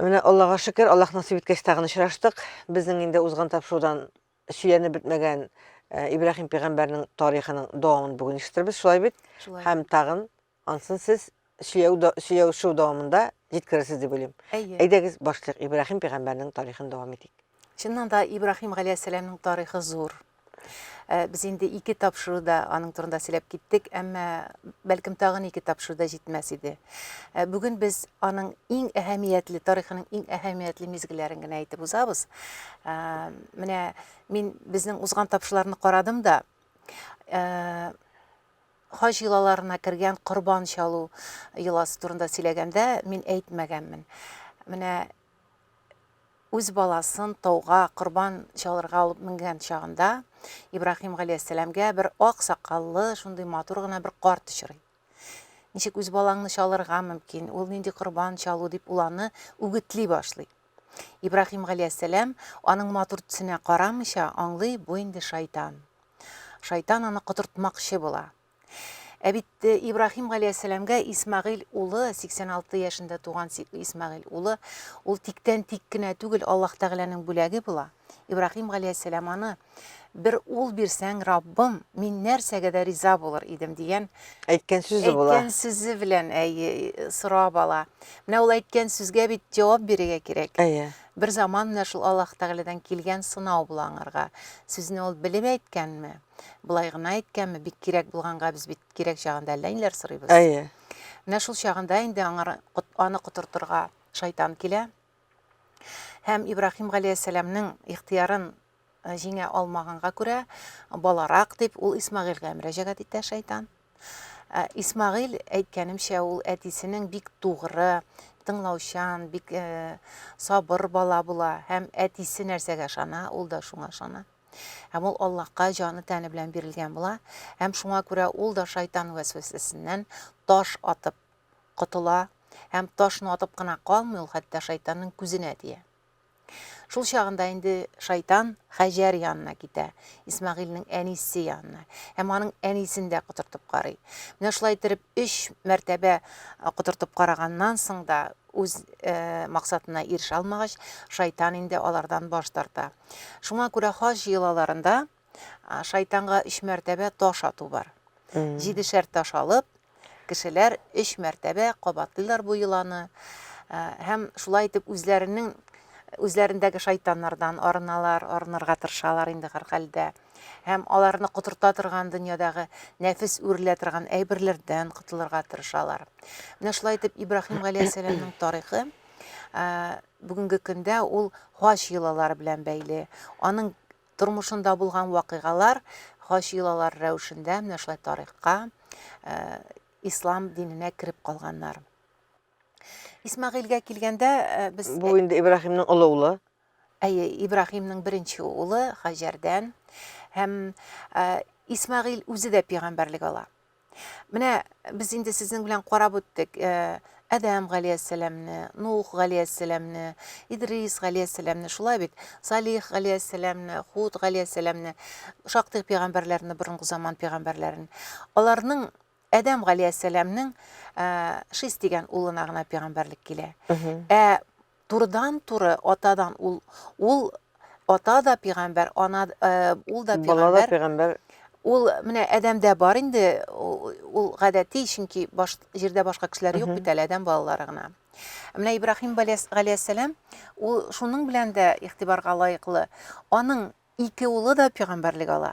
Менә Аллага шөкер, Аллаһ насыйп иткәч тагын очраштык. Безнең инде узган тапшырудан сөйләнеп бетмәгән э, Ибраһим пигамбәрнең тарихының дәвамын бүген ишетербез, шулай бит? Шулай. Һәм тагын ансын сез сөйләү да- сөйләүшү дәвамында җиткерерсез дип уйлыйм. Әйе. Әйдәгез башлыйк Ибраһим пигамбәрнең тарихын дәвам итик. Чыннан да Ибраһим галәйһиссәламнең тарихы зур. Без инде ике тапшыруда аның турында сөйләп киттек, әмма бәлкем тагын ике тапшыруда җитмәс иде. Бүген без аның иң әһәмиятле, тарихының иң әһәмиятле мизгелләрен генә әйтеп узабыз. Менә мин безнең узган тапшырларны карадым да, хаҗ йолаларына кергән корбан чалу йоласы турында сөйләгәндә мин әйтмәгәнмен. Менә үз баласын тауга корбан чалырга алып менгән чагында Ибраһим галәйһиссәламгә бер ак сакаллы, шундый матур гына бер карт очрый. Ничек үз балаңны чалырга мөмкин, ул нинди корбан чалу дип ул аны үгетли башлый. Ибраһим галәйһиссәлам аның матур төсенә карамыйча аңлый, бу инде шайтан. Шайтан аны котыртмакчы була. Ә бит э, Ибраһим галәйһиссәламгә Исмагыйль улы, 86 яшендә туган Исмагыйль улы, ул тиктән тик кенә түгел, Аллаһ Тәгаләнең бүләге була. Ибраһим галәйһиссәлам аны бер ул бирсәң, Раббым, мин нәрсәгә дә риза булыр идем дигән әйткән сүзе була. Әйткән сүзе белән әй сорап ала. Менә ул әйткән сүзгә бит җавап бирергә кирәк. Әйе. Бер заман менә шул Аллаһ Тәгаләдән килгән сынау була аңарга. Сүзне ул белеп әйткәнме? Болай гына әйткәнме, бик кирәк булганга без бит кирәк чагында әллә ниләр сорыйбыз. Әйе. Менә шул чагында инде аңар аны котыртырга шайтан килә. Һәм Ибрахим галәйһиссәламның ихтиярын э, җиңә алмаганга күрә, баларак дип ул Исмагыйльгә мөрәҗәгать итә шайтан. Э, Исмагыйль әйткәнемчә ул әтисенең бик тугры, тыңлаучан, бик э, сабыр бала була һәм әтисе нәрсәгә ышана, ул да шуңа ышана. Һәм ул Аллаһка җаны-тәне белән бирелгән була, һәм шуңа күрә ул да шайтан вәсвәсәсеннән таш атып котыла, һәм ташны атып кына калмый, ул хәтта шайтанның күзенә тия. Шул чагында инде шайтан Хаҗәр янына китә, Исмагыйльнең әнисе янына, һәм аның әнисен дә котыртып карый. Менә шулай иттереп өч мәртәбә котыртып караганнан соң да Үз максатына ирешә алмагач, шайтан инде алардан баш тарта. Шуңа күрә хаҗ йолаларында шайтанга өч мәртәбә таш ату бар. Җидешәр таш алып, кешеләр өч мәртәбә кабатлыйлар бу йоланы һәм шулай итеп үзләренең үзләрендәге шайтаннардан арыналар, арынырга тырышалар инде һәрхәлдә. һәм аларны котырта торган дөньядагы нәфес үрелә торган әйберләрдән котылырга тырышалар. Менә шулай итеп Ибраһим галәйһиссәламның тарихы бүгенге көндә ул хаҗ йолалары белән бәйле. Аның тормышында булган вакыйгалар хаҗ йолалары рәвешендә менә шулай тарихка ислам диненә кереп калганнар. Исмагыйльгә килгәндә без Бу инде Ибраһимның олы улы. Әйе, Ибраһимның беренче улы Хаҗәрдән һәм Исмәгыйль үзе дә пигамбәрлек ала. Менә без инде сезнең белән карап үттек. Әдәм галәйһиссәламне, Нух галәйһиссәламне, Идрис галәйһиссәламне, шулай бит? Салих галәйһиссәламне, Худ галәйһиссәламне, шактый пигамбәрләрне, борынгы заман пигамбәрләрен. Аларның Адәм галәйһиссәламнең Шис дигән улына гына пәйгамбәрлек килә. Ә турыдан-туры атадан ул ул ата да пәйгамбәр, ана ул да пәйгамбәр. Ул менә Адәмдә бар инде, ул гадәти, чөнки баш җирдә башка кешеләр юк бит әле, Адәм балалары гына. Менә Ибраһим галәйһиссәлам ул шуның белән дә игътибарга лаеклы. Аның ике улы да пәйгамбәрлек ала.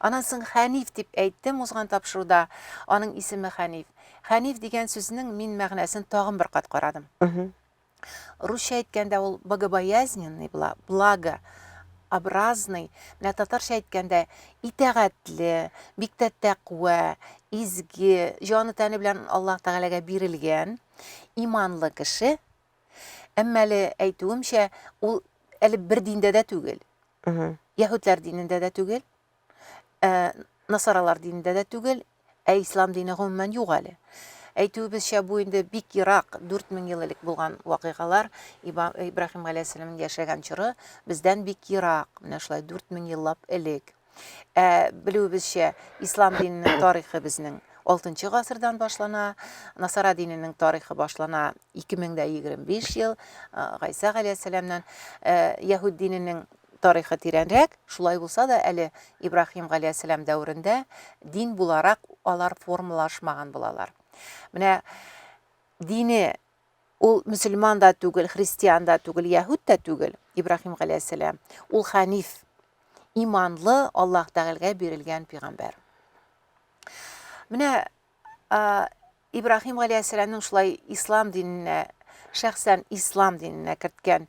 Аннан соң Хәниф дип әйттем узган тапшыруда. Аның исеме Хәниф. Хәниф дигән сүзнең мин мәгънәсен тагын бер кат карадым. Русча әйткәндә ул богобоязненный була, благо, образный. Менә татарча әйткәндә итәгатьле, бик тә тәкъва, изге, җаны-тәне белән Аллаһ Тәгаләгә бирелгән, иманлы кеше. Әмма әле әйтүемчә, ул әле бер диндә дә түгел. Яһүдләр динендә дә түгел, э, насаралар динендә дә түгел, ә ислам дине гомумән юк әле. Әйтүебезчә, бу инде бик ерак, 4000 ел элек булган вакыйгалар, Ибраһим галәйһиссәламнең яшәгән чоры бездән бик ерак, менә шулай 4000 еллап элек. Ә белүебезчә, ислам диненең тарихы безнең Алтынчы гасырдан башлана, насара диненең тарихы башлана 2025 ел Гайса галәйһиссәламнан. Яһүд диненең тарихы тирәнрәк, шулай булса да әле Ибраһим галәйһиссәлам дәверендә дин буларак алар формалашмаган булалар. Менә дине ул мөселман да түгел, христиан да түгел, яһүд тә түгел, Ибраһим галәйһиссәлам. Ул ханиф, иманлы, Аллаһ Тәгаләгә бирелгән пигамбәр. Менә Ибрахим галәйһиссәламнең шулай ислам диненә шәхсән ислам диненә керткән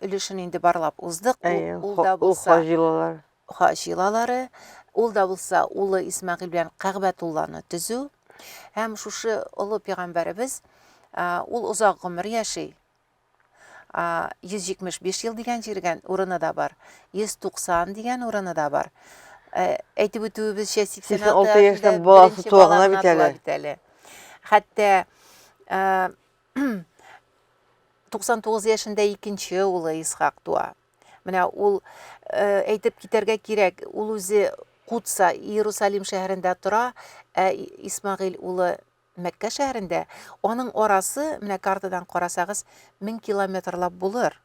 өлешен инде барлап уздык. Ул да булса хаҗилалар. Хаҗилалары, ул да булса улы Исмагил белән Кәгъбәтулланы төзү. Һәм шушы олы пәйгамбәребез ул озак гомер яши. 175 ел дигән җиргән урыны да бар, 190 дигән урыны да бар. Ә, әйтеп үтүебезчә, 86 яшьтән баласы туа гына бит әле. Бит әле. Хәтта 99 яшендә икенче улы Исхак туа. Менә ул әйтеп китәргә кирәк, ул үзе Кутса, Иерусалим шәһәрендә тора, ә Исмагыйль улы Мәккә шәһәрендә аның арасы, менә картадан карасагыз, мең километрлап булыр.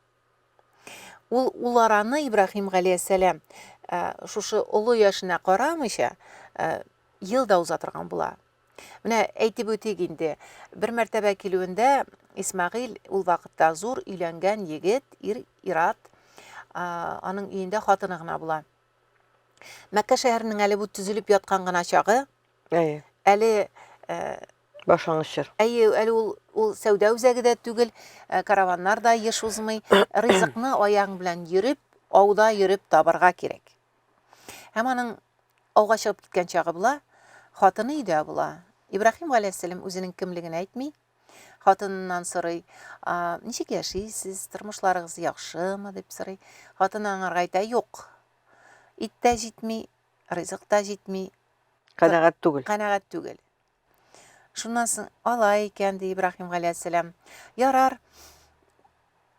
Ул ул араны Ибраһим галәйһиссәлам э, шушы олы яшенә карамыйча э, ел да уза торган була. Менә әйтеп үтик инде, бер мәртәбә килүендә Исмагыйл ул вакытта зур өйләнгән егет, ир, ират, аның өендә хатыны гына була. Мәккә шәһәренең әле бу төзелеп яткан гына чагы, Әйе. Әле башлангыч чор. Әйе, әле ул ул сәүдә үзәге дә түгел, караваннар да еш узмый. Ризыкны аяң белән йөреп, ауда йөреп табарга кирәк. Һәм аның ауга чыгып киткән чагы була, хатыны өйдә була. Ибраһим галәйһиссәлам үзенең кемлеген әйтми, хатыныннан сорый, ничек яшисез, тормышларыгыз яхшымы дип сорый. Хатыны аңарга әйтә, юк, ит тә җитми, ризык та җитми. Канәгать түгел. Канәгать түгел. Шуннан соң ала икән, ди Ибраһим галәйһиссәлам. Ярар.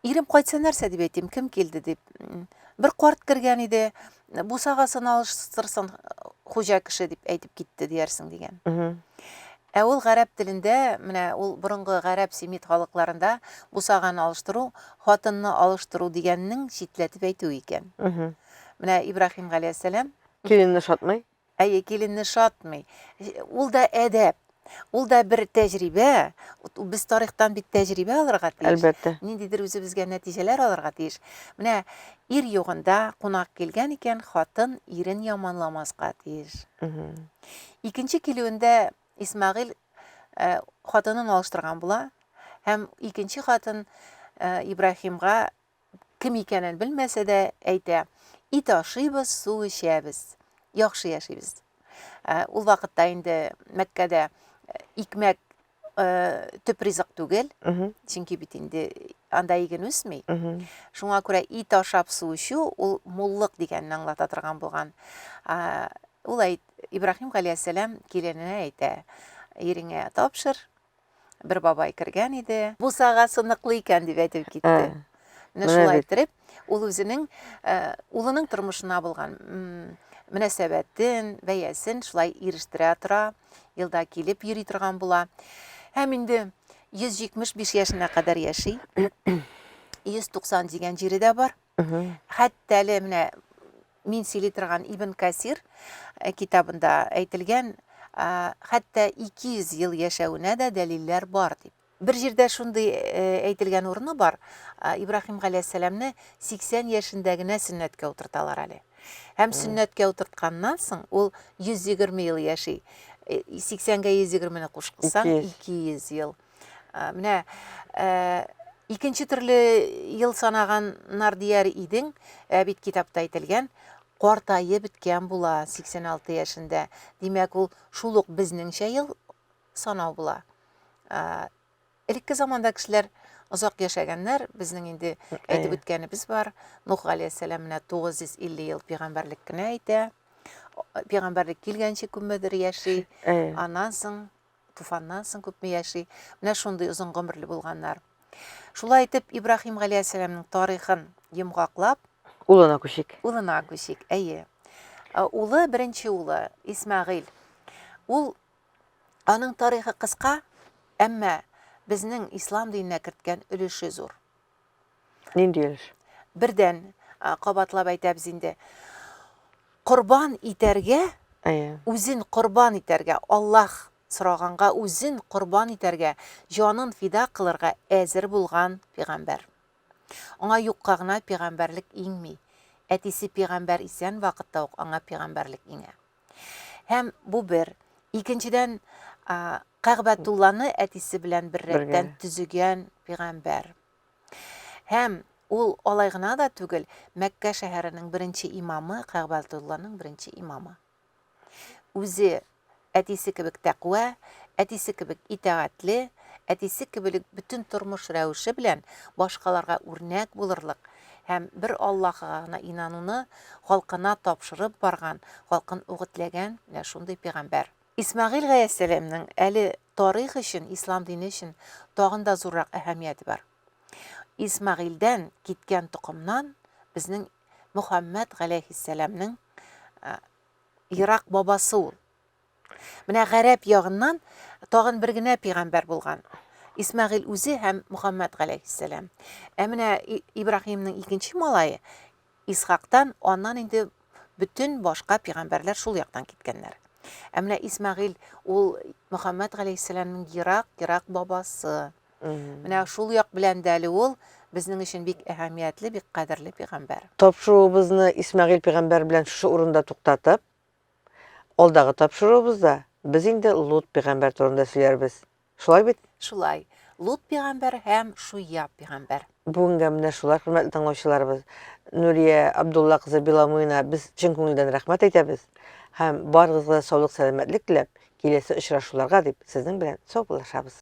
Ирем кайтса нәрсә дип әйтим, кем килде дип. Бер карт кергән иде, бусагасын алыштырсын хуҗа кеше дип әйтеп китте диярсең дигән. Ә ул гарәп телендә, менә ул борынгы гарәп семит халыкларында бусаганы алыштыру, хатынны алыштыру дигәннең читләтеп әйтүе икән. Менә Ибрахим галәйһиссәлам. Киленне шатмый. Әйе, киленне шатмый. Ул да әдәп. Ул да бер тәҗрибә. Без тарихтан бит тәҗрибә алырга тиеш. Әлбәттә. Ниндидер үзебезгә нәтиҗәләр алырга тиеш. Менә ир югында кунак килгән икән, хатын ирен яманламаска тиеш. Икенче килүендә Исмагыйл э, хатынын алыштырган була һәм икенче хатын э, Ибрахимга кем икәнен белмәсә дә әйтә, ит ашыйбыз, су эчәбез, яхшы яшибез. Ә, ул вакытта инде Мәккәдә икмәк э, төп ризык түгел, Мгм. чөнки бит инде анда иген үсми. Мгм. Шуңа күрә ит ашап су эчү ул муллык дигәнне аңлата торган булган. А, Ул әйт, Ибраһим галәйһиссәлам килененә әйтә, иреңә тапшыр, бер бабай кергән иде. Бусага сыныклы икән дип әйтеп китте. Менә шулай иттереп, ул үзенең улының тормышына булган мөнәсәбәтен, бәясен шулай ирештерә тора, елда килеп йөри торган була. Һәм инде 175 яшенә кадәр яши. 190 дигән җире дә бар. Хәтта әле менә мин сөйли торган Ибн Касир э, китабында әйтелгән, хәтта 200 ел яшәвенә дә дәлилләр бар дип. Бер җирдә шундый э, әйтелгән урыны бар, Ибраһим галәйһиссәламне 80 яшендә генә сөннәткә утырталар әле. Һәм сөннәткә утыртканнан соң ул 120 ел яши. 80-гә 120-не кушкансаң 200 ел. Ә, Менә ә, икенче төрле ел санаганнар дияр идең, ә бит китапта әйтелгән, картаеп беткән була 86 яшендә. Димәк, ул шул ук безнеңчә ел санау була. Ә, Элекке заманда кешеләр озак яшәгәннәр, безнең инде әйтеп Әйе. үткәнебез бар. Нух галәйһиссәлам менә 950 ел пигамбәрлек кенә итә. Пигамбәрлек килгәнче күпмедер яши. Әйе. Аннан соң Туфаннан соң күпме яши, менә шундый озын гомерле булганнар. Шулай итеп, Ибраһим галәйһиссәламның тарихын йомгаклап, улына күчик. Улына күчик, әйе. Э, улы, беренче улы, Исмәгыйль. Ул аның тарихы кыска, әмма безнең ислам диненә керткән өлеше зур. Нинди өлеш? Бердән, кабатлап әйтәбез инде. Корбан итәргә, үзен корбан итәргә, Аллаһ сораганга үзен корбан итәргә, җанын фида кылырга әзер булган пигамбәр. Аңа юкка гына пигамбәрлек иңми. Әтисе пигамбәр исән вакытта ук аңа пигамбәрлек иңә. Һәм бу бер. Икенчедән, Кәгъбәтулланы әтисе белән беррәттән төзегән пигамбәр. Һәм ул алай гына да түгел, Мәккә шәһәренең беренче имамы, Кәгъбәтулланың беренче имамы. Үзе әтисе кебек тәкъва, әтисе кебек итәгатле, әтисе кебек бөтен тормыш рәвеше белән башкаларга үрнәк булырлык һәм бер Аллаһыга гына инануны халкына тапшырып барган, халкын үгетләгән менә шундый пигамбәр. Исмәгыйль гаэссәләмнең әле тарих өчен, ислам дине өчен тагын да зуррак әһәмияте бар. Исмәгыйльдән киткән токымнан безнең Мөхәммәд галәйһиссәләмнең ерак бабасы ул. Менә гарәп ягыннан тагын бер генә пигамбәр булган. Исмәгыйль үзе һәм Мухаммад галәйһиссәлам. Ә менә Ибраһимның икенче малае Исхактан, аннан инде бөтен башка пигамбәрләр шул яктан киткәннәр. Ә менә Исмәгыйль ул Мухаммад галәйһиссәламның ерак, ерак бабасы. Менә шул як белән дә әле ул безнең өчен бик әһәмиятле, бик кадерле пигамбәр. Тапшыруыбызны Исмәгыйль пигамбәр белән шушы урында туктатып, Алдагы тапшыруыбызда без инде Лут пигамбәр турында сөйләрбез. Шулай бит? Шулай. Лут пигамбәр һәм Шуяб пигамбәр. Бүгенгә менә шулар, хөрмәтле тыңлаучыларыбыз. Нурия Абдулла кызы Беломуина без чын күңелдән рәхмәт әйтәбез һәм барыгызга да саулык-сәламәтлек теләп, киләсе очрашуларга дип сезнең белән саубуллашабыз.